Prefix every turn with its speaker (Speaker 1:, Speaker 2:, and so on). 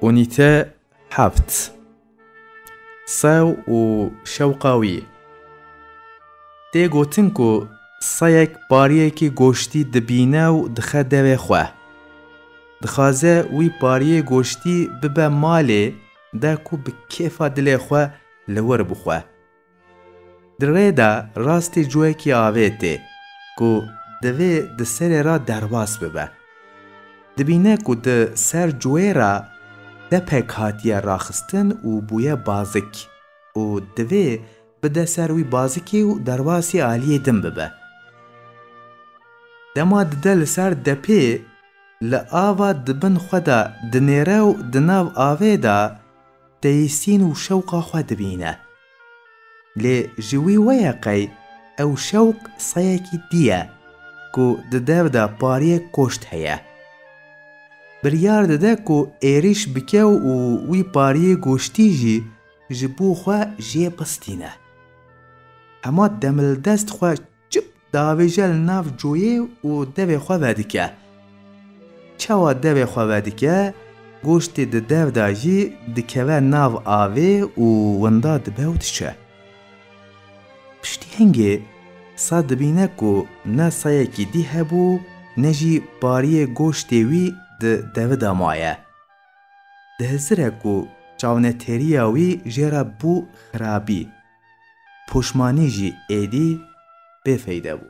Speaker 1: Unîte heft Sew û şewqa wî Tê gotin ku seyek pariyekî goştî dibîne û dixe devê xwe. Dixwaze wî pariyê goştî bibe malê de ku bi kêfa dilê xwe li wir bixwe. Di rê de rastî cûekî avê tê ku divê di serê re derbas bibe. Dibîne ku di ser cûê re depek hatiye raxistin û bûye bazik û divê bide ser wî bazikî û derbasî aliyê din bibe. Dema dide li ser depê li ava di bin xwe de dinêre û di nav avê de, têsîn û şewqa xwe dibîne. Lê ji wî we ye qey ew şewq seyekî dî ye ku di dev de pariyê koşt heye. Biryar dide ku êrîş bike û wî pariyê goştî jî ji bo xwe jê bistîne. Hema demildest xwe Çip diavêje li nav coyê û devê xwe vedike. Çawa devê xwe vedike, goştê di dev de jî dikeve nav avê û winda dibe û diçe. Piştî hingê sa dibîne ku ne sayekî dî hebû ne jî pariyê goştê wî di devi de maye. Dihizire ku çawnetêriya wî jê re bû xirabî. Poşmanî jî êdî bêfeyde bû.